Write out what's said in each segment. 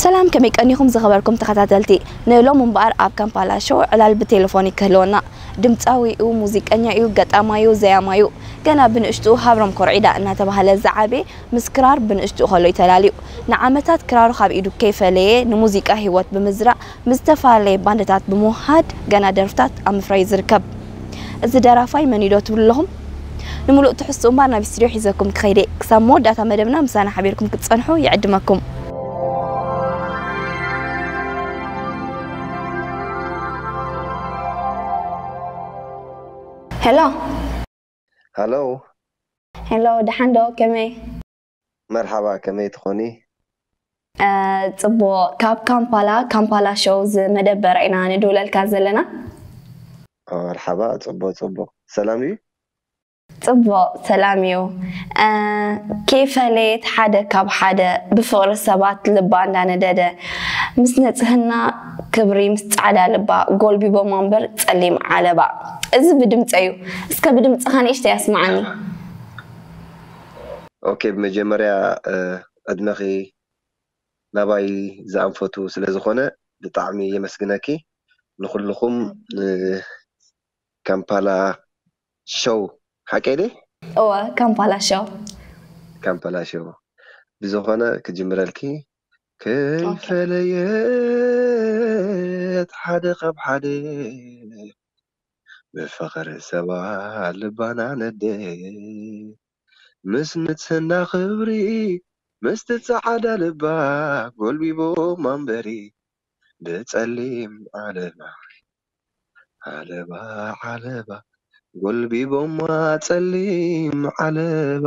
ሰላም ከመይ ቀኒኹም ዝኸበርኩም ተኸታተልቲ ን ሎሚ እምበኣር ኣብ ካምፓላ ሾው ዕላል ብቴለፎን እዩ ክህልወና ድምጻዊ እዩ ሙዚቀኛ እዩ ገጣማይ እዩ ዘያማይ እዩ ገና ብንእሽትኡ ሃብሮም ኮርዒዳ እናተባህለ ዝዓበየ ምስ ክራር ብንእሽትኡ ከሎ እዩ ተላልዩ ንዓመታት ክራሩ ካብ ኢዱ ከይፈለየ ንሙዚቃ ሂወት ብምዝራእ ምስ ዝተፈላለየ ባንድታት ብምውህሃድ ገና ደርፍታት ኣብ ምፍራይ እዩ ዝርከብ። እዚ ደራፋይ መን'ዩ ዶ ትብሉ ኣለኹም? ንምሉእ ትሕዝትኡ እምበኣር ናብ ስቱድዮ ሒዘኩም ክኸይድ'የ። ክሳብ መወዳእታ መደብና ምሳና ሓቢርኩም ክትጸንሑ ይዕድመኩም። ሄሎ! ሃሎ! ሄሎ! ደሓን ዶ? ከመይ? መርሓባ ከመይ ትኾኒ። ጽቡቅ ካብ ካምፓላ ካምፓላ ሾው ዝመደበር ኢና ንድውለልካ ዘለና። መርሓባ ጽቡቅ ጽቡቅ ሰላም ድዩ። ጽቡቅ ሰላም እዩ ከይፈለየት ሓደ ካብ ሓደ ብፍቅሪ ሰባት ልባ እንዳነደደ ምስ ንጽህና ክብሪ ምስ ጻዕዳ ልባ ጎልቢቦማ እምበር ጸሊም ዓለባ እዚ ብድምጸይ እዩ እስከ ብድምጽኻ ንእሽተይ ኣስማዓኒ። ኦኬ ብመጀመርያ ዕድመኺ ናባይ ዝኣንፈቱ ስለ ዝኾነ ብጣዕሚ የመስግነኪ ንኹልኹም ንካምፓላ ሸው ሓቀይ ድየ? እወ ካምፓላ ሸው። ካምፓላ ሸው ብዝኾነ ክጅምረልኪ ከይፈለየት ሓደ ካብ ሓደ ብፍቅሪ ሰባ ልባና ነድእ ምስ ንጽህና ክብሪ ምስቲ ጻዓዳ ልባ ጎልቢቦማ እምበሪ ብጸሊም ዓለባ ዓለባ ዓለባ ጎልቢቦማ ጸሊም ዓለባ።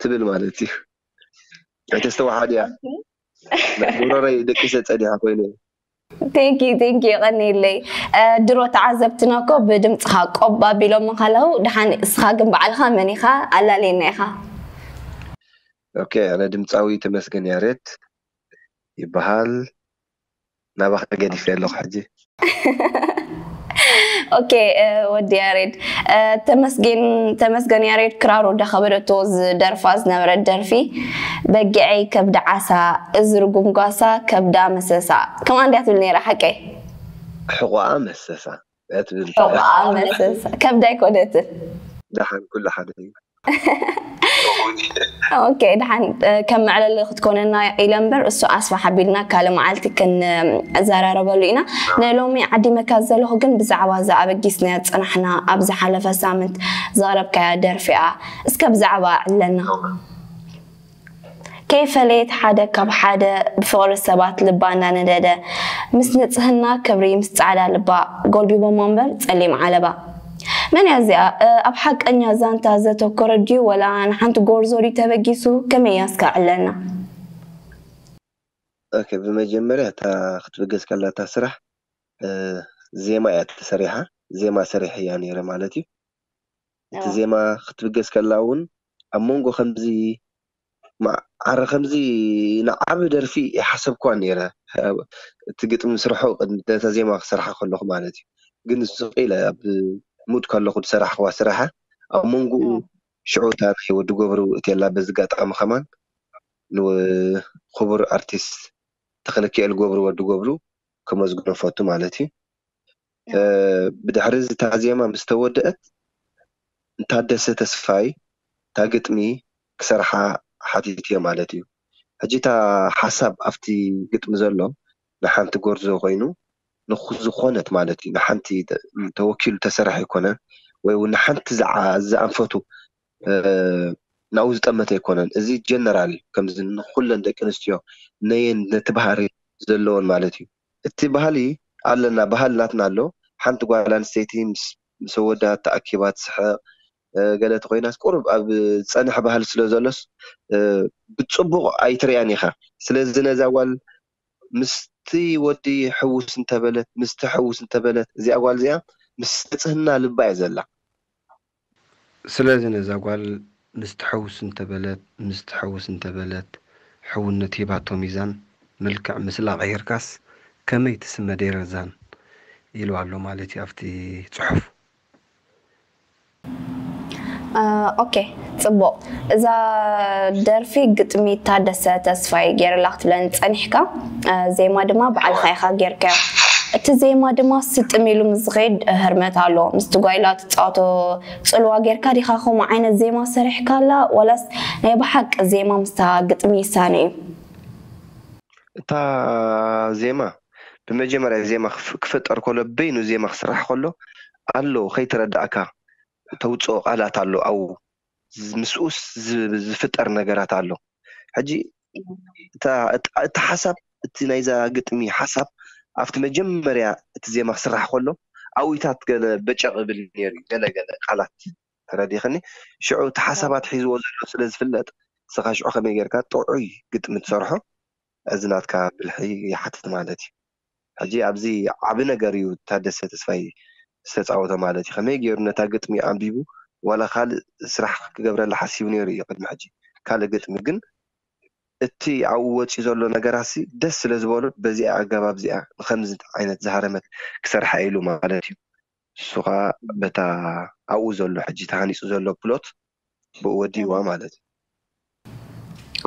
ትብል ማለት እዩ ኣይተስተውዓል እያ ናይ ጉሮረይ ደቂሰ ጸኒሐ ኮይኑ እዩ። Thank you thank you የቐንየለይ ድሮ ተዓዘብትና እኮ ብድምጽኻ ቆብ ኣቢሎሞ ከለዉ ደሓን እስኻ ግን ባዕልኻ መን ኢኻ ኣላልየና ኢኻ። ኦኬ ኣነ ድምጻዊ ተመስገን ያሬድ ይበሃል። ናባካ ገዲፈዮ ኣለኩ ሕጂ። ኦኬ ወዲ ያሬድ ተመስጌን ተመስገን ያሬድ ክራሩ እንዳኸበደቶ ዝደርፋ ዝነበረት ደርፊ በጊዐይ ከብዲ ዓሳ እዚ ርጉም ጓሳ ከብዳ መሰሳ ከምኣ እንድያ ትብል ነይራ ሓቀይ? ሕቖኣ መሰሳ ኣትብል ዑቕዓ መለሰስ ከብዳ ኣይኮነትን ደሓን ኩሉ ሓደ እዩ ኦኬ ድሓን ከም መዕለሊ ክትኮነና ኢለ እምበር እሱ ኣስፋሕ ኣቢልና ካልእ መዓልቲ ክንዘራረበሉ ኢና ናይ ሎሚ ዓዲመካ ዘለኹ ግን ብዛዕባ እዛ ኣበጊስናያ ፅናሕና ኣብ ዝሓለፈ ሳምንት ዘቕረብካያ ደርፊ እያ እስከ ብዛዕባ ዕለና ከይፈለየት ሓደ ካብ ሓደ ብፍቕሪ ሰባት ልባ እንዳነደደ ምስ ንጽህና ክብሪ ምስ ጻዕዳ ልባ ጎልቢቦሞ እምበር ጸሊም ዓለባ መን እያ እዚኣ ኣብ ሓቀኛ ዛንታ ዘተኮረት ድዩ ወላ ንሓንቲ ጎርዞ ድዩ ተበጊሱ ከመይ እያ እስከ ዕለልና። ኦኬ ብመጀመርያ እታ ክትብገስ ከላ እታ ስራሕ ዜማ እያ ተሰሪሓ ዜማ ሰሪሐያ ኔረ ማለት እዩ እቲ ዜማ ክትብገስ ከላ ውን ኣብ መንጎ ከምዚ ማዕረ ከምዚ ንዓቢ ደርፊ ኣይሓሰብክዋን ኔረ እቲ ግጥሚ ምስርሑ ቅድሚ ነታ ዜማ ክሰርሓ ከለኩ ማለት እዩ ግን ስቅ ኢለ ኣብ ሙድ ከለኩ ዝሰራሕክዋ ስራሓ ኣብ መንጉኡ ሽዑ እታ ናይ ወዲ ጎብሩ እትየላ በዚ ኣጋጣሚ ከማን ንኩቡር ኣርቲስት ተክለኪኤል ጎብሩ ወዲ ጎብሩ ከመስግኖ እፈቱ ማለት እዩ ብድሕሪ እዚ እታ ዜማ ምስ ተወድእት ንታደሰ ተስፋይ እታ ግጥሚ ክሰርሓ ሓቲተዮ ማለት እዩ። ሕጂ እታ ሓሳብ ኣብቲ ግጥሚ ዘሎ ንሓንቲ ጎርዞ ኮይኑ ንዝኾነት ማለት እዩ ንሓንቲ ተወኪሉ ዝተሰርሐ ኣይኮነን ወይ ውን ንሓንቲ ዝኣንፈቱ ናብኡ ዝጠመተ ኣይኮነን እዚ ጀነራል እዩ ከምዚ ንኹለን ደቂ ኣንስትዮ ነየን ነቲ ባህሪ ዘለወን ማለት እዩ። እቲ ባህሊ ኣለና ባህሊ ናትና ኣሎ ሓንቲ ጓል ኣንስተይቲ ምስ ኣወዳ ተኣኪባ ትስሕቅ ገለ ተኾይናስ ቁሩብ ኣብ ዝጸንሐ ባህሊ ስለ ዘሎስ ብጽቡቅ ኣይትርእያን ኢኻ ስለዚ ነዛ ጓል ምስቲ ወዲ ሕውስ እንተበለት ምስቲ ሕውስ እንተበለት እዚኣ ጓል እዚኣ ምስ ንጽህና ልባ እያ ዘላ ስለዚ ነዛ ጓል ምስ ትሕውስ እንተ በለት ምስ ትሕውስ እንተ በለት ሕውነት ሂባቶ ሚዛን መልክዕ ምስላ ቀይርካስ ከመይ ትስመ ደይረዛን ኢሉ ኣሎ ማለት እዩ ኣብቲ ጽሑፍ። ኦኬ ጽቡቅ እዛ ደርፊ ግጥሚ ታደሰ ተስፋይ ጌርላ ክትብለኒ ጸኒሕካ ዜማ ድማ ባዕልኻ ኢኻ ጌርካዮ እቲ ዜማ ድማ ስጥም ኢሉ ምስ ዝኸይድ ህርመት ኣሎ ምስቲ ጓይላ ትጻወቶ ጽልዋ ጌርካ ዲኻ ከምኡ ዓይነት ዜማ ሰሪሕካላ ዋላስ ናይ ብሓቂ ዜማ ምስታ ግጥሚ ይሳነ እዩ እታ ዜማ ብመጀመርያ ዜማ ክፍጠር ከሎ በይኑ ዜማ ክስራሕ ከሎ ኣሎ ከይተረዳእካ እተውጽኦ ቃላት ኣሎ ኣዉ ምስኡ ዝፍጠር ነገራት ኣሎ ሕጂ እቲ ሓሳብ እቲ ናይዛ ግጥሚ ሓሳብ ኣብቲ መጀመርያ እቲ ዜማ ክስራሕ ከሎ ኣዉታት ገለ በጨቕ ይብል ነይሩ እዩ ገለ ገለ ቃላት ተረዲኽኒ ሽዑ እቲ ሓሳባት ሒዝዎ ዘሎ ስለ ዝፍለጥ ንስኻ ሽዑ ከመይ ጌርካ ጥዑይ ግጥሚ ትሰርሖ እዚ ናትካ ብልሒ ይሓትት ማለት እዩ ሕጂ ኣብዚ ዓቢ ነገር እዩ ታደሰ ተስፋይ ዝተጻወቶ ማለት እዩ ከመይ ጌሩ ነታ ግጥሚ ኣንቢቡ ዋላ ካልእ ስራሕ ክገብረላ ሓሲቡ ኔሩ እዩ ቅድሚ ሕጂ ካልእ ግጥሚ ግን እቲ ኣብኡ ወጺኡ ዘሎ ነገራትሲ ደስ ስለ ዝበሎ በዚኣ ኣገባብ እዚኣ ንከምዚ ዓይነት ዝሃረመት ክሰርሓ ኢሉ ማለት እዩ ንሱ ከኣ በታ ኣብኡ ዘሎ ሕጂ ተሃኒጹ ዘሎ ፕሎት ብኡ ወዲእዋ ማለት እዩ።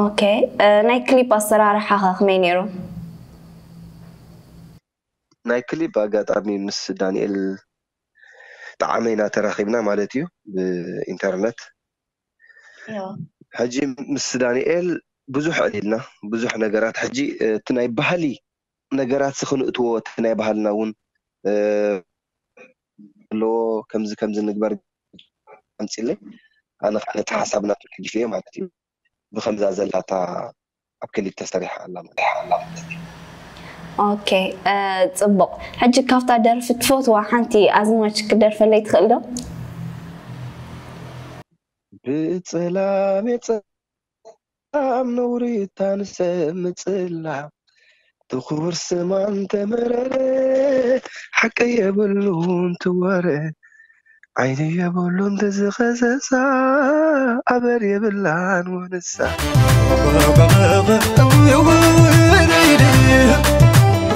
ኦኬ ናይ ክሊፕ ኣሰራርሓ ከ ከመይ ኔሩ? ናይ ክሊፕ ብኣጋጣሚ ምስ ዳኒኤል ጠዓመ ኢና ተራኺብና ማለት እዩ ብኢንተርነት። ሕጂ ምስ ዳኒኤል ብዙሕ ዕሊልና ብዙሕ ነገራት ሕጂ እቲ ናይ ባህሊ ነገራትሲ ክንእትዎ እቲ ናይ ባህልና ውን ኣለዎ ከምዚ ከምዚ ንግበር ኣምጽለይ ኣነ ከኣ ነቲ ሓሳብ ናቱ ደጊፈዮ ማለት እዩ ብከምዛ ዘላታ ኣብ ክሊፕ ተሰሪሓ ኣላ ማለት እዩ። ኦኬ ጽቡቅ ሕጂ ካብታ ደርፊ ትፈትዋ ሓንቲ ኣዝማች ክደርፈለይ ትክእል ዶ? ብጽላሜ ካብ ነውሪ እታ ንሰብ ምጽላም ብክቡር ስማ እንተመረረ ሓቂ የብሉን ትወረ ዓይኒ የብሉን ተዝኸሰሳ ኣበር የብላን ወንሳ።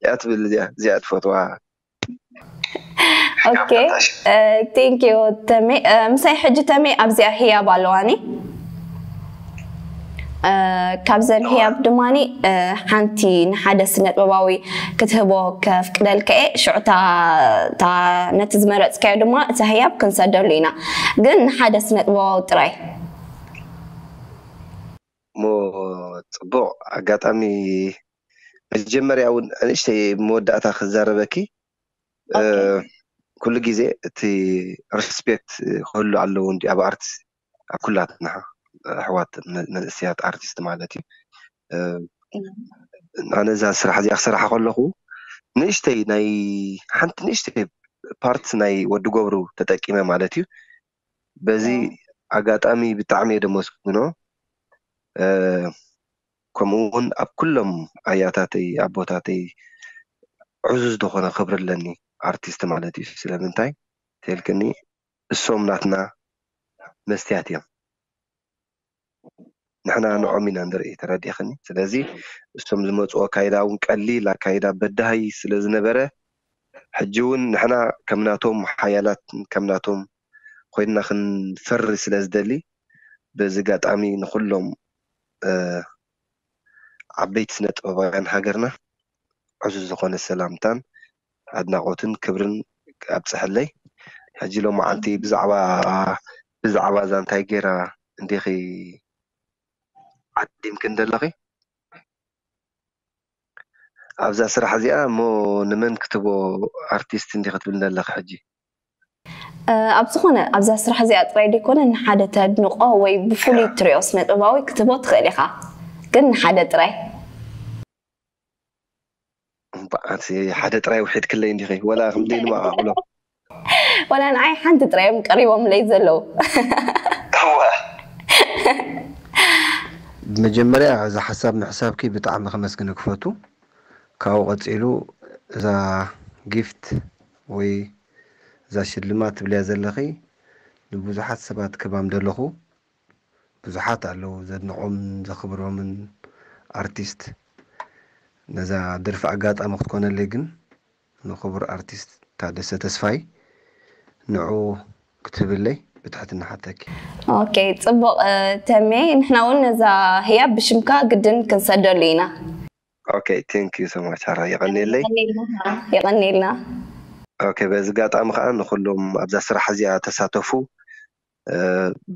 እዚኣ ትብል እዚኣ እዚኣ ትፈትዋ ኦኬ ቴንክ ዩ ተሜ ምሳይ ሕጂ ተሜ ኣብዚኣ ህያብ ኣለዋኒ ካብዘን ህያብ ድማኒ ሓንቲ ንሓደ ስነጥበባዊ ክትህቦ ከፍቅደልካ እየ ሽዑታ ነቲ ዝመረፅካዮ ድማ እታ ህያብ ክንሰደሉ ኢና ግን ንሓደ ስነጥበባዊ ጥራይ እሞ ፅቡቅ ኣጋጣሚ መጀመርያ ውን ንእሽተይ ኣብ መወዳእታ ክዛረበኪ ኦኬ ኩሉ ግዜ እቲ ሪስፔክት ክህሉ ኣለዎ እንድዩ ኣብ ኣርት ኣብ ኩላትና ኣሕዋት መንእሰያት ኣርቲስት ማለት እዩ ኣነ እዛ ስራሕ እዚኣ ክሰርሓ ከለኹ ንእሽተይ ናይ ሓንቲ ንእሽተይ ፓርት ናይ ወዲ ገብሩ ተጠቂመ ማለት እዩ በዚ ኣጋጣሚ ብጣዕሚ እየ ደመስግኖ ከምኡ ውን ኣብ ኩሎም ኣያታተይ ኣቦታተይ ዕዙዝ ዝኾነ ክብሪ ኣለኒ ኣርቲስት ማለት እዩ ስለምንታይ ተልክኒ እሶም ናትና መስትያት እዮም። ንሕና ንዖም ኢና ንርኢ ተረዲእኽኒ ስለዚ እሶም ዝመጽዎ ኣካይዳ ውን ቀሊል ኣካይዳ በዳሂ ስለ ዝነበረ ሕጂ ውን ንሕና ከም ናቶም ሓያላት ከም ናቶም ኮይንና ክንፈሪ ስለ ዝደሊ በዚ ጋጣሚ ንኹሎም ዓበይቲ ስነ ጥበባውያን ሃገርና ዕዙዝ ዝኾነ ሰላምታን ኣድናቆትን ክብርን ኣብፀሐለይ ሕጂ ሎማዓንቲ ብዛዕባ ብዛዕባ እዛ እንታይ ገይራ እንዲኺ ዓዲምክን ዘለኺ ኣብዛ ስራሕ እዚኣ እሞ ንመን ክትቦ ኣርቲስት እንዲኺ ትብልን ዘለኺ ሕጂ ኣብ ዝኾነ ኣብዛ ስራሕ እዚኣ ጥራይ ዘይኮነ ንሓደ ተድንቆ ወይ ብፍሉይ እትሪኦ ስነ ጥበባዊ ክትቦ ትኽእል ኢኻ ግን ንሓደ ጥራይ እንቋዓት ሓደ ጥራይ ውሒድክለይ እንዲኺ ወላ ክንደይ ንመዓዕብሎ ወላ ንዓይ ሓንቲ ጥራይ እዮም ቀሪቦምለይ ዘለዉ ብመጀመርያ እዚ ሓሳብ ምሕሳብኪ ብጣዕሚ ከመስግነኪ ፈቱ ካብኡ ቀጺሉ እዛ ጊፍት ወይ እዛ ሽልማት ትብልያ ዘለኺ ንብዙሓት ሰባት ክህባም ደለኹ ብዙሓት ኣለዉ ዘድንቆምን ዘኽብሮምን ኣርቲስት ነዛ ደርፊ ኣጋጣሚ ክትኮነለይ ግን ንኽቡር ኣርቲስት ታደሰ ተስፋይ ንዑ ክትህብለይ ብትሕትና እሓተኪ። ኦኬ ጽቡቅ ተሜ ንሕና ውን ነዛ ህያብ ብሽምካ ግድን ክንሰደሉ ኢና። ኦኬ ቴንክ ዩ ሶማች ሓራይ የቀኔለይ። የቀኔልና። ኦኬ በዚ ጋጣሚ ከኣ ንኹሎም ኣብዛ ስራሕ እዚኣ ተሳተፉ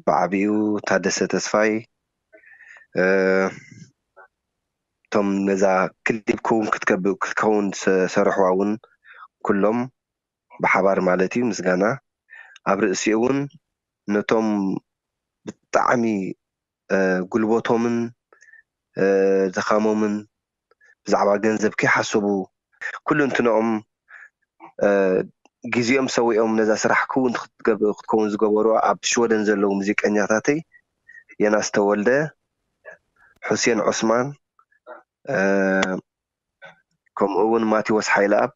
ብዓቢኡ ታደሰ ተስፋይ እቶም ነዛ ክሊብ ክዉን ክትከዉን ዝሰርሕዋ እዉን ኩሎም ብሓባር ማለት እዩ ምስጋና ኣብ ርእሲኡ እዉን ነቶም ብጣዕሚ ጉልበቶምን ድኻሞምን ብዛዕባ ገንዘብ ከይሓሰቡ ኩሉንትንኦም ግዜኦም ሰዊኦም ነዛ ስራሕ ክውን ክትከውን ዝገበሩ ኣብ ሽወደን ዘለዉ ሙዚቀኛታተይ የናስ ተወልደ ሑሴን ዑስማን ከምኡ ውን ማቲዎስ ሓይልኣብ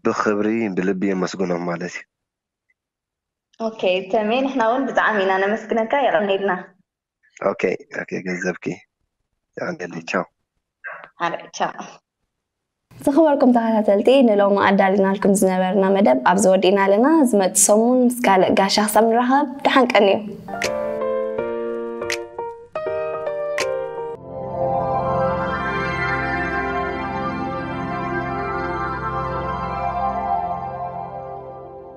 ብኽብሪ ብልቢ የመስግኖም ማለት እዩ። ኦኬ ተሜ ንሕና እውን ብጣዕሚ ኢና ነመስግነካ የቀኒልና ኦኬ ኦኬ ገንዘብኪ የቀኒለይ ቻው ሓረይ ቻው ዝኸበርኩም ተኸታተልቲ ንሎሚ ኣዳሊናልኩም ዝነበርና መደብ ኣብዚ ወዲእና ኣለና ዝመፅእ ሰሙን ምስ ካልእ ጋሻ ክሳብ ንራኸብ ደሓን ቀንዩ